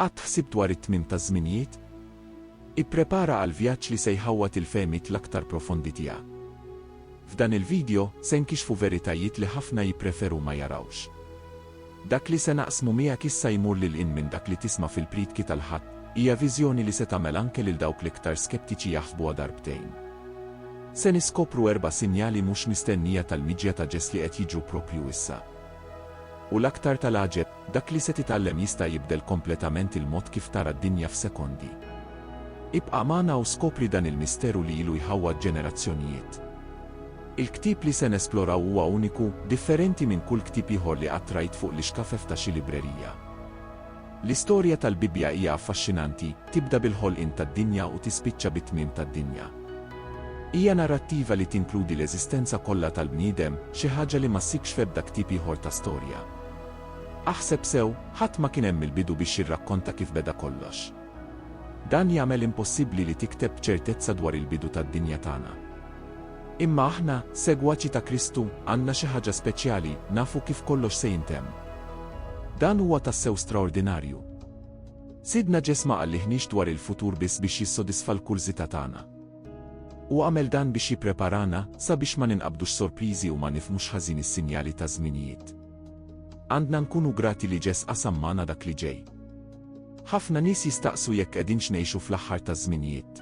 Qatt ħsibt dwar it-tmiem taż-żminijiet? Ipprepara għall-vjaġġ li se jħawwad il-fehmiet l-aktar profondi tiegħek. F'dan il-vidjo, se nkixfu veritajiet li ħafna jippreferu ma jarawx. Dak li se naqsmu miegħek issa jmur lil hinn minn dak li tisma' fil-priedki tal-Ħadd, hija viżjoni li se tagħmel anke lil dawk l-iktar skeptiċi jaħsbuha darbtejn. Se niskopru erba' sinjali mhux mistennija tal-miġja ta' Ġesli qed jiġru proprju issa. U l-aktar tal-għaġeb, Dak li se titgħallem jista' jibdel kompletament il-mod kif tara d-dinja f'sekondi. Ibqa' magħna u skopri dan il-misteru li ilu jħawwad ġenerazzjonijiet. Il-ktieb li se nesploraw huwa uniku, differenti minn kull ktieb ieħor li qatt rajt fuq l-ixkafef ta' xi librerija. L-istorja tal-Bibbja hija affaxxinanti, tibda bil-ħolqien tad-dinja u tispiċċa bit-tmiem tad-dinja. Hija narrattiva li tinkludi l-eżistenza kollha tal-bniedem, xi ħaġa li ma ssibx f'ebda ktieb ieħor ta' storja. Aħseb sew, ħadd ma kien hemm mill-bidu biex jirrakkonta kif beda kollox. Dan jagħmel impossibbli li tikteb b'ċertezza dwar il-bidu tad-dinja tagħna. Imma aħna, segwaċi ta' Kristu, għandna xi ħaġa speċjali, nafu kif kollox se jintemm. Dan huwa tassew straordinarju. Sidna Ġesma ma qalliħniex dwar il-futur biss biex jissodisfa l-kurżità tagħna. U għamel dan biex jippreparana sabiex ma ninqabdux sorpriżi u ma nifhmux ħażin is-sinjali taż-żminijiet. Għandna nkunu grati li Ġeż qasam magħna dak li ġej. Ħafna nies jistaqsu jekk qegħdinx ngħixu fl-aħħar taż-żminijiet.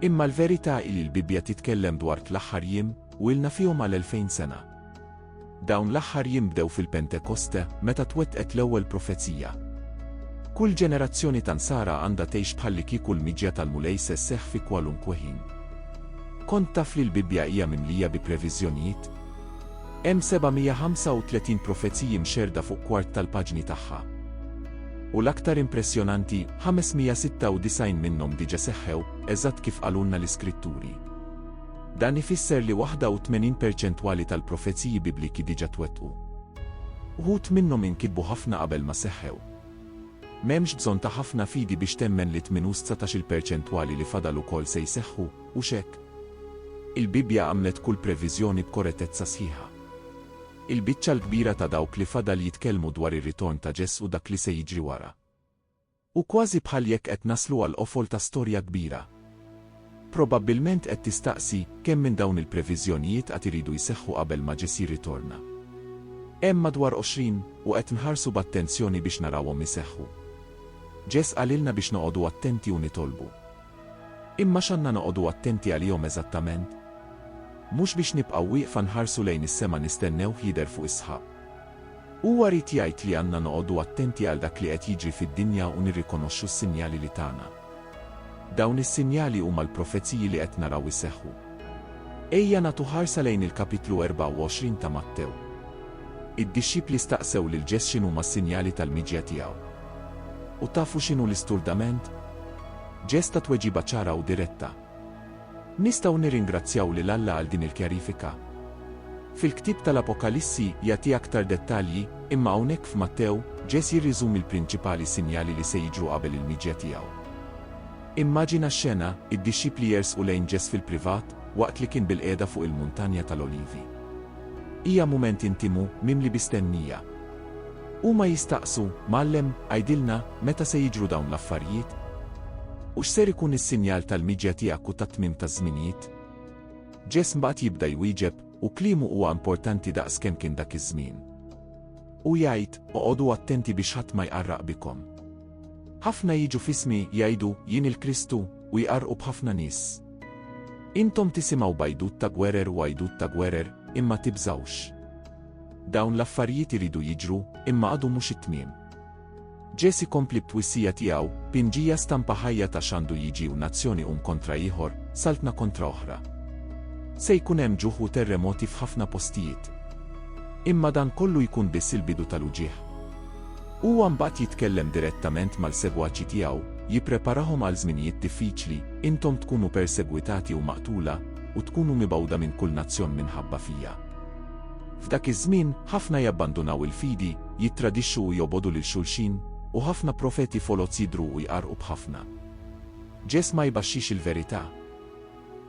Imma l-verità hi li l-Bibbja titkellem dwar l-aħħar jiem, u ilna fihom għal elfejn sena. Dawn l-aħħar jiem bdew fil-Pentekoste, meta twettqet l-ewwel profezija. Kull ġenerazzjoni ta' nsara għandha tgħix bħalli kieku l-miġja tal-Mulej se sseħħ fi kwalunkwe ħin. Kont taf li l-Bibbja hija mimlija bi previżjonijiet? Hemm 735 profeziji mxerrda fuq kwart tal-paġni tagħha. U l-aktar impressjonanti, 596 minnhom diġà seħħew, eżatt kif qalulna l-Iskritturi. Dan ifisser li 81 perċentwali tal-profeziji Bibliki diġà twettqu. Uħud minnhom inkitbu ħafna qabel ma seħħew. M'hemmx bżonn ta' ħafna fidi biex temmen li tmien u s-dsatax-il perċentwali li fadal ukoll se jseħħu. Hux hekk? Il-Bibbja għamlet kull previżjoni b'korettezza sħiħa. Il-biċċa l-kbira ta' dawk li fadal jitkellmu dwar ir-ritorn ta' Ġes u dak li se jiġri wara. Hu kważi bħal jekk qed naslu għall-qofol ta' storja kbira. Probabbilment qed tistaqsi, kemm minn dawn il-previżjonijiet għad iridu jseħħu qabel ma Ġes jirritorna? Hemm madwar għoxrin, u qed nħarsu b'attenzjoni biex narawhom iseħħu. Ġes qalilna biex noqogħdu attenti u nitolbu. Imma x'għandna noqogħdu attenti għalihom eżattament? Mhux biex nibqgħu wieqfa nħarsu lejn is-sema nistennewh jidher fuq is-sħab. Huwa ried jgħid li għandna noqogħdu attenti għal dak li qed jiġri fid-dinja u nirrikonoxxu s-sinjali li tana. Dawn is-sinjali huma l-profeziji li qed naraw iseħħu. Ejja nagħtu ħarsa lejn il-Kapitlu 24 ta' Mattew. Id-dixxipli staqsew lil Ġeż x'inhuma s-sinjali tal-miġja tiegħu. U tafu x'inhu l-isturdament? Ġest ta' tweġiba ċara u diretta. Nistgħu nirringrazzjaw lil Alla għal din il-kjarifika. Fil-ktieb tal-Apokalissi jagħti aktar dettalji, imma hawnhekk f'Mattew, Ġes jirriżumi l-prinċipali sinjali li se jiġru qabel il-miġja tiegħu. Immaġina x-xena, id-dixxipli jersqu lejn Ġes fil-privat, waqt li kien bilqiegħda fuq il-Muntanja tal-Olivi. Hija mument intimu, mimli bi stennija. Huma jistaqsu, Mgħallem, għidilna, meta se jiġru dawn l-affarijiet? U x'ser ikun is-sinjal tal-miġja tiegħek u tat-tmiem taż-żminijiet? Ġeż mbagħad jibda jwieġeb, u kliemu huwa importanti daqs kemm kien dak iż-żmien. U jgħid, Oqogħdu attenti biex ħadd ma jqarraq bikom. Ħafna jiġu f'ismi, jgħidu, Jien il-Kristu, u jqarrqu b'ħafna nies. Intom tisimgħu b'għajdut ta' gwerer u għajdut ta' gwerer, imma tibżgħux. Dawn l-affarijiet iridu jiġru, imma għadu mhux it-tmiem. Ġesì kompli b'twissija tiegħu, Pinġija stampa ħajja ta' x'għandu jiġi u nazzjoni um kontra ieħor, saltna kontra oħra. Se jkun hemm ġuħ u terremoti f'ħafna postijiet. Imma dan kollu jkun biss il-bidu tal-uġigħ. Huwa mbagħad jitkellem direttament mal-segwaċi tiegħu, jippreparahom għal żminijiet diffiċli, intom tkunu persegwitati u maqtula, u tkunu mibgħuda minn kull nazzjon minħabba fija. F'dak iż-żmien, ħafna jabbandunaw il-fidi, jittradixxu u jobogħdu lil xulxin, u ħafna profeti foloz jidhru u jqarrqu b'ħafna. Ġesm ma jbaxxix il-verità.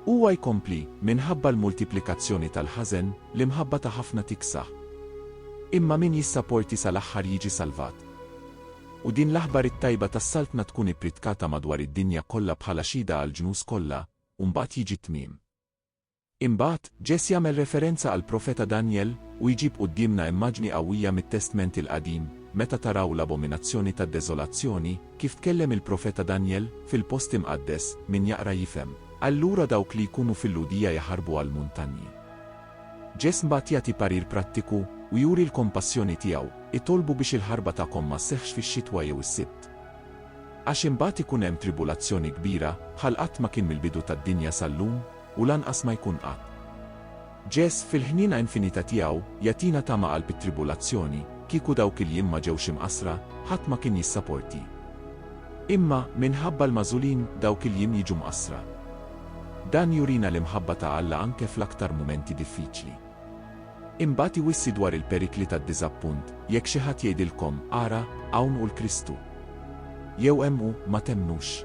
Huwa jkompli, Minħabba l-multiplikazzjoni tal-ħażen, l-imħabba ta' ħafna tiksaħ. Imma min jissaporti sal-aħħar jiġi salvat. U din l-aħbar it-tajba tas-Saltna tkun ippritkata madwar id-dinja kollha bħala xhieda għall-ġnus kollha, u mbagħad jiġi t-tmiem. Imbagħad, Ġess jagħmel referenza għall-profeta Danjel u jġib quddiemna immaġni qawwija mit-Testment il-Qadim, meta taraw l-abominazzjoni tad-deżolazzjoni, kif tkellem il-profeta Danjel, fil-post imqaddes, min jaqra jifhem. Allura dawk li jkunu fil-Lhudija jaħarbu għall-muntanji. Ġess mbagħad jagħti parir prattiku u juri l-kompassjoni tiegħu, Itolbu biex il-ħarba tagħkom ma sseħħx fix-xitwa jew is-Sibt. Għax imbagħad ikun hemm tribulazzjoni kbira, bħal qatt ma kien mill-bidu tad-dinja sal-lum, u lanqas ma jkun qatt. Ġeż, fil-ħniena infinita tiegħu, jagħtina tama qalb it-tribulazzjoni, kieku dawk il-jiem ma ġewx imqassra, ħadd ma kien jissaporti. Imma, minħabba l-magħżulin, dawk il-jiem jiġu mqassra. Dan jurina l-imħabba ta' Alla anke fl-aktar mumenti diffiċli. Imbagħad iwissi dwar il-perikli tad-diżappunt, Jekk xi ħadd jgħidilkom, 'Ara, hawn hu l-Kristu! jew 'Hemm hu, ma temmnux.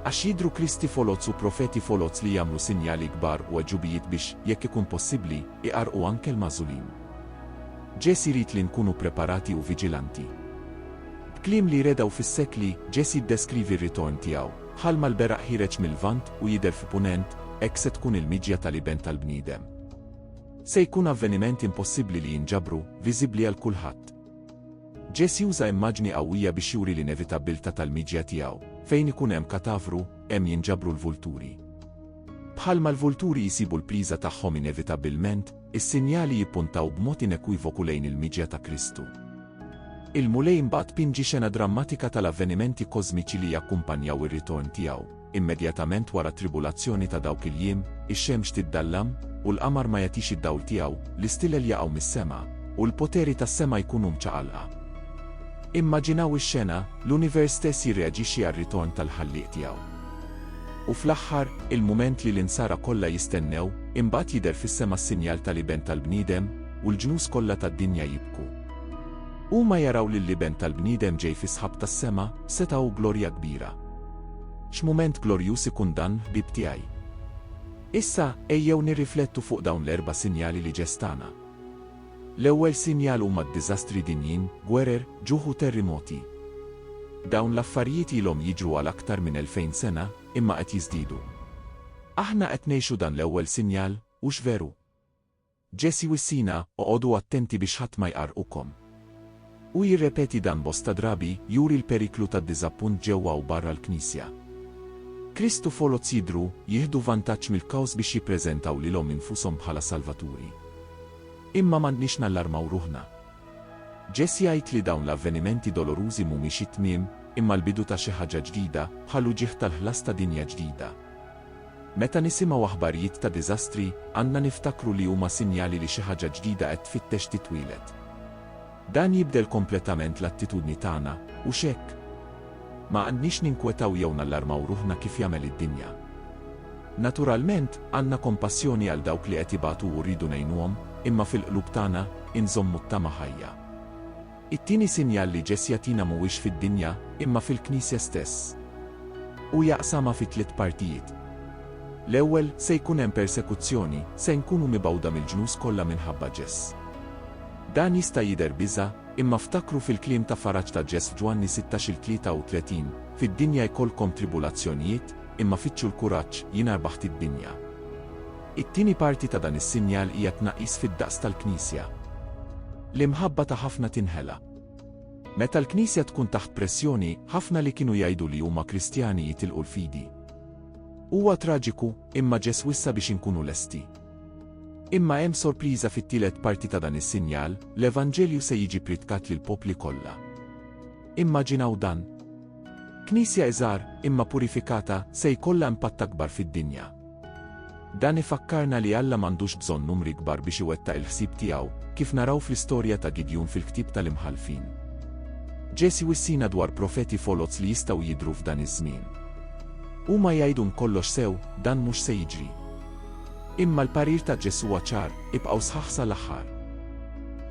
Għax jidhru kristi foloz u profeti foloz li jagħmlu sinjali kbar u għeġubijiet biex, jekk ikun possibbli, iqarrqu anke l-magħżulin. Ġesì jrid li nkunu preparati u viġilanti. B'kliem li jredgħu fis-sekli, Ġesì ddeskrivi r-ritorn tiegħu. Bħalma l-beraq ħiereġ mil-Lvant u jidher fi Punent, hekk se tkun il-miġja tal-Iben tal-bniedem. Se jkun avveniment impossibbli li jinġabru, viżibbli għal kulħadd. Ġeż juża immaġni qawwija biex juri l-inevitabbiltà tal-miġja tiegħu, fejn ikun hemm katavru, hemm jinġabru l-vulturi. Bħalma l-vulturi jsibu l-pliża tagħhom inevitabbilment, Is-sinjali jippuntaw b'mod inekwivoku lejn il-miġja ta' Kristu. Il-Mulej mbagħad pinġi xena drammatika tal-avvenimenti kożmiċi li jakkumpanjaw ir-ritorn tiegħu, immedjatament wara t-tribulazzjoni ta' dawk il-jiem, ix-xemx tiddallam, u l-qamar ma jagħtix id-dawl tiegħu, l-istilel jaqgħu mis-sema, u l-poteri tas-sema jkunu mċaqalqa. Immaġinaw ix-xena, l-univers stess jirreaġixxi għar-ritorn tal-Ħallieq tiegħu. U fl-aħħar, il-mument li l-insara kollha jistennew, imbagħad jidher fis-sema s-sinjal tal-Iben tal-bniedem, u l-ġnus kollha tad-dinja jibku. Huma jaraw lill-Iben tal-bniedem ġej fis-sħab tas-sema, b'setgħa u glorja kbira. X'mument glorjuż ikun dan, ħbieb tiegħi! Issa, ejjew nirriflettu fuq dawn l-erba' sinjali li ġestana. L-ewwel sinjal huma d-diżastri dinjin, gwerer, ġuħ u terrimoti. Dawn l-affarijiet ilhom jiġru għal aktar minn elfejn sena, imma qed jiżdiedu. Aħna qed ngħixu dan l-ewwel sinjal, hux veru? Ġesì wissina, Oqogħdu attenti biex ħadd ma jqarrqukom. Hu jirrepeti dan bosta drabi, juri l-periklu tad-diżappunt ġewwa u barra l-Knisja. Krist u foloz jidhru, jieħdu vantaġġ mill-kaos biex jippreżentaw lilhom infushom bħala salvaturi. Imma m'għandniex nallarmaw ruħna. Ġess jgħid li dawn l-avvenimenti dolorużi mhumiex it-tmiem, imma l-bidu ta' xi ħaġa ġdida, bħall-uġigħ tal-ħlas ta' dinja ġdida. Meta nisimgħu aħbarjiet ta' diżastri, għandna niftakru li huma sinjali li xi ħaġa ġdida qed tfittex titwieled. Dan jibdel kompletament l-attitudni tagħna, hux hekk? Ma għandniex ninkwetaw jew nallarmaw ruħna kif jagħmel id-dinja. Naturalment, għandna kompassjoni għal dawk li qed ibatu u rridu ngħinuhom, imma fil-qlub tagħna, inżommu t-tama ħajja. It-tieni sinjal li Ġesj jagħtina mhuwiex fid-dinja, imma fil-Knisja stess. Hu jaqsamha fi tliet partijiet. L-ewwel, se jkun hemm persekuzzjoni, se nkunu mibgħuda mill-ġnus kollha minħabba Ġesj. Dan jista' jidher biża', imma ftakru fil-kliem ta' faraġ ta' Ġes' f'Ġwanni 16 il-33, Fid-dinja jkollkom tribulazzjonijiet, imma fittxu l-kuraġġ, jiena rbaħt id-dinja. It-tieni parti ta' dan is-sinjal hija t-tnaqqis fid-daqs tal-Knisja. L-imħabba ta' ħafna tinħela. Meta l-Knisja tkun taħt pressjoni, ħafna li kienu jgħidu li huma Kristjani jitilqu l-fidi. Huwa traġiku, imma Ġes' wissa biex inkunu lesti. Imma hemm sorpriża fit-tielet parti ta' dan is-sinjal, l-Evanġelju se jiġi pritkat lill-popli kollha. Immaġinaw dan! Knisja iżgħar, imma purifikata, se jkollha impatt akbar fid-dinja. Dan ifakkarna li Alla m'għandux bżonn numri kbar biex iwettaq il-ħsieb tiegħu, kif naraw fl-istorja ta' Gidjun fil-ktieb tal-Imħallfin. Ġeż jwissina dwar profeti foloz li jistgħu jidhru f'dan iż-żmien. Huma jgħidun kollox sew, dan mhux se jiġri. Imma l-parir ta' Ġesù huwa ċar, ibqgħu sħaħ sal-aħħar.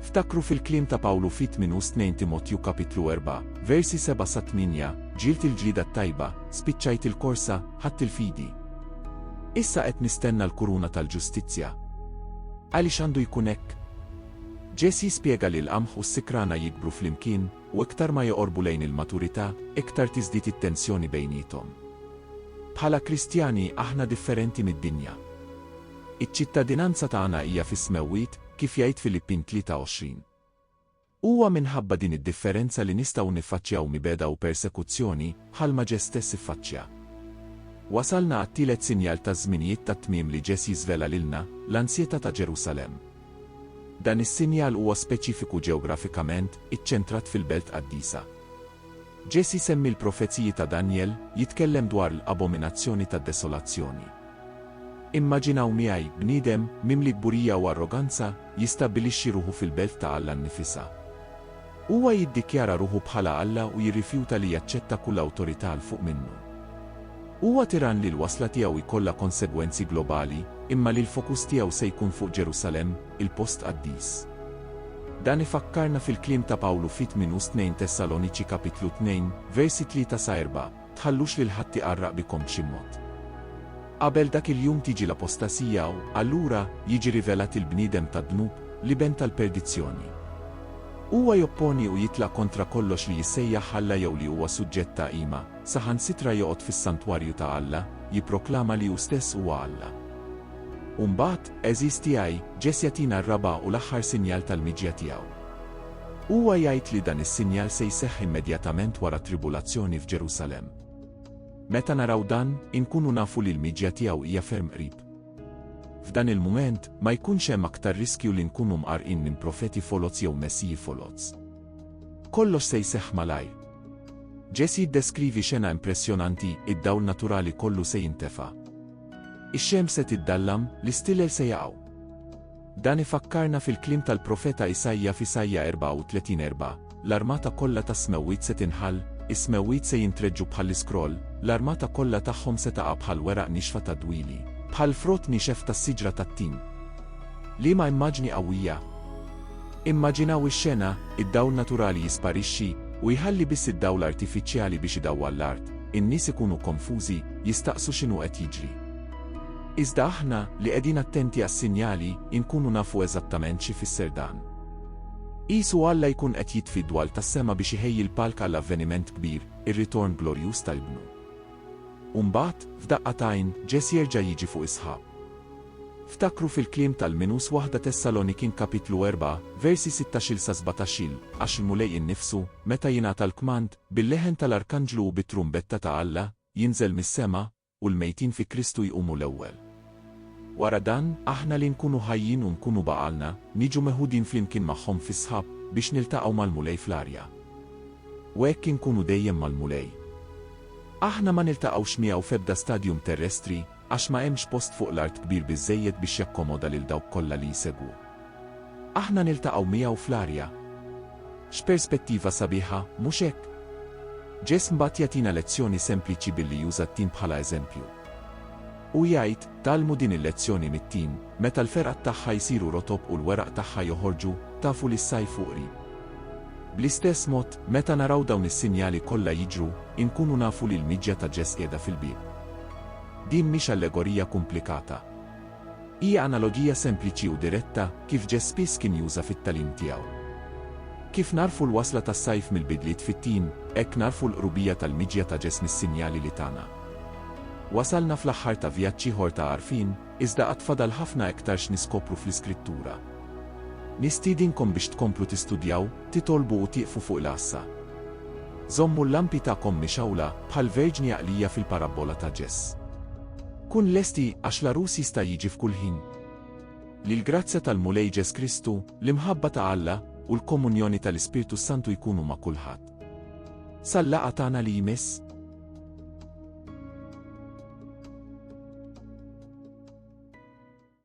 Ftakru fil-kliem ta' Pawlu fi 2 u 2 Timotju kapitlu 4, versi 7 sa 8, Ġielt il-ġlieda t-tajba, spiċċajt il-korsa, ħadt il-fidi. Issa qed nistenna l-kuruna tal-ġustizzja. Għaliex għandu jkun hekk? Ġesù jispjega li l-qamħ u s-sikrana jikbru flimkien, u iktar ma joqorbu lejn il-maturità, iktar tiżdied it-tensjoni bejniethom. Bħala Kristjani, aħna differenti mid-dinja. Iċ-ċittadinanza tagħna hija fis-smewwiet, kif jgħid Filippin 23. Huwa minħabba din id-differenza li nistgħu niffaċċjaw mibegħda u persekuzzjoni, bħalma Ġes stess iffaċċja. Wasalna għat-tielet sinjal taż-żminijiet tat-tmiem li Ġes jiżvela lilna, l-ansjetà ta' Ġerusalemm. Dan is-sinjal huwa speċifiku ġeografikament, iċċentrat fil-Belt Qaddisa. Ġesj isemmi l-profeziji ta' Danjel, jitkellem dwar l-abominazzjoni tad-desolazzjoni. Immaġinaw miegħi, bniedem, mimli kburija u arroganza, jistabbilixxi ruħu fil-belt ta' Alla nnifisha. Huwa jiddikjara ruħu bħala Alla u jirrifjuta li jaċċetta kull awtorità 'l fuq minnu. Huwa tirann li l-wasla tiegħu jkollha konsegwenzi globali, imma li l-fokus tiegħu se jkun fuq Ġerusalemm, il-post qaddis. Dan ifakkarna fil-kliem ta' Pawlu f'It Minus Tnejn Tessaloniċi Kapitlu Tnejn, Versi Tlieta sa Erbgħa. tħallux lil ħadd iqarraq bikom b'xi mod. Qabel dak il-jum tiġi l-apostasija u, allura, jiġi rivelat il-bniedem tad-dnub, l-iben tal-perdizzjoni. Huwa jopponi u jitlaq kontra kollox li jissejjaħ Alla jew li huwa suġġett ta' qima, saħansitra joqgħod fis-santwarju ta' Alla, jipproklama li hu stess huwa Alla. U mbagħad, għeżież tiegħi, Ġesja tina r-raba' u l-aħħar sinjal tal-miġja tiegħu. Huwa jgħid li dan is-sinjal se jseħħ immedjatament wara t-tribulazzjoni f'Ġerusalemm. Meta naraw dan, inkunu nafu li l-miġja tiegħu hija ferm qrib. F'dan il-mument, ma jkunx hemm aktar riskju li nkunu mqarrqin minn profeti foloz jew messiji foloz. Kollox se jseħħ malajr. Jess jiddeskrivi xena impressjonanti, id-dawl naturali kollu se jintefa'. Ix-xemx se tiddallam, l-istilel se jaqgħu. Dan ifakkarna fil-kliem tal-profeta Isaija f'Isaija 34, 4, L-armata kollha tas-smewwiet se tinħall, is-smewwiet se jintreġġu bħall-iskroll, l-armata kollha tagħhom se taqa' bħal weraq nixfa tad-dwieli, bħal frott niexef tas-siġra tat-tin. Liema immaġni qawwija! Immaġinaw ix-xena, id-dawl naturali jisparixxi, u jħalli biss id-dawl artifiċjali biex idawwal l-art, in-nies ikunu konfużi, jistaqsu x'inhu qed jiġri. Iżda aħna, li qegħdin attenti għas-sinjali, inkunu nafu eżattament x'ifisser dan. Qisu Alla jkun qed jitfi d-dwal tas-sema biex iħejji l-palk għal avveniment kbir, ir-ritorn glorjuż tal-Ibnu. U mbagħad, f'daqqa t'għajn, Ġess jerġa' jiġi fuq is-sħab. Ftakru fil-kliem tal-Minus Waħda Tessalonikin Kapitlu erbgħa, versi sittax-il sa sbatax-il, Għax il-Mulej innifsu, meta jingħata l-kmand, bil-leħen tal-arkanġlu u bit-trumbetta ta' Alla, jinżel mis-sema, U l-mejtin fi Kristu jqumu l-ewwel. Wara dan, aħna li nkunu ħajjin u nkunu baqalna, niġu meħudin flimkien magħhom fis-sħab, biex niltaqgħu mal-Mulej fl-arja. U hekk inkunu dejjem mal-Mulej. Aħna ma niltaqgħux miegħu f'ebda stadium terrestri, għax ma hemmx post fuq l-art kbir biżżejjed biex jakkomoda lil dawk kollha li jsegwu. Aħna niltaqgħu miegħu fl-arja. X'perspettiva sabiħa, mhux hekk? Ġeż mbagħad jagħtina lezzjoni sempliċi billi juża t-tim bħala eżempju. U jgħid, Tgħallmu din il-lezzjoni mit-tim, meta l-fergħat tagħha jsiru rotob u l-weraq tagħha joħorġu, tafu li s-sajf hu qrib. Bl-istess mod, meta naraw dawn is-sinjali kollha jiġru, inkunu nafu li l-miġja ta' Ġeż qiegħda fil-bieb. Din mhix allegorija kumplikata. Hija analogija sempliċi u diretta kif Ġeż spiss kien juża fit-tagħlim tiegħu. Kif nagħrfu l-wasla tas-sajf mill-bidliet fit-tim, hekk nagħrfu l-qrubija tal-miġja ta' Ġeż mis-sinjali li tana. Wasalna fl-aħħar ta' vjaġġ ieħor ta' għarfien, iżda għad fadal ħafna iktar x'niskopru fl-Iskrittura. Nistiedinkom biex tkomplu tistudjaw, titolbu u tieqfu fuq il-għassa. Żommu l-lampi tagħkom mixgħula, bħall-verġni għaqlija fil-parabbola ta' Ġeż. Kun lesti, għax l-għarus jista' jiġi f'kull ħin. Li l-grazzja tal-Mulej Ġes Kristu, l-imħabba ta' Alla, u l-komunjoni tal-Ispirtu s-Santu jkunu ma' kulħadd. Sal-laqgħa tagħna li jmiss.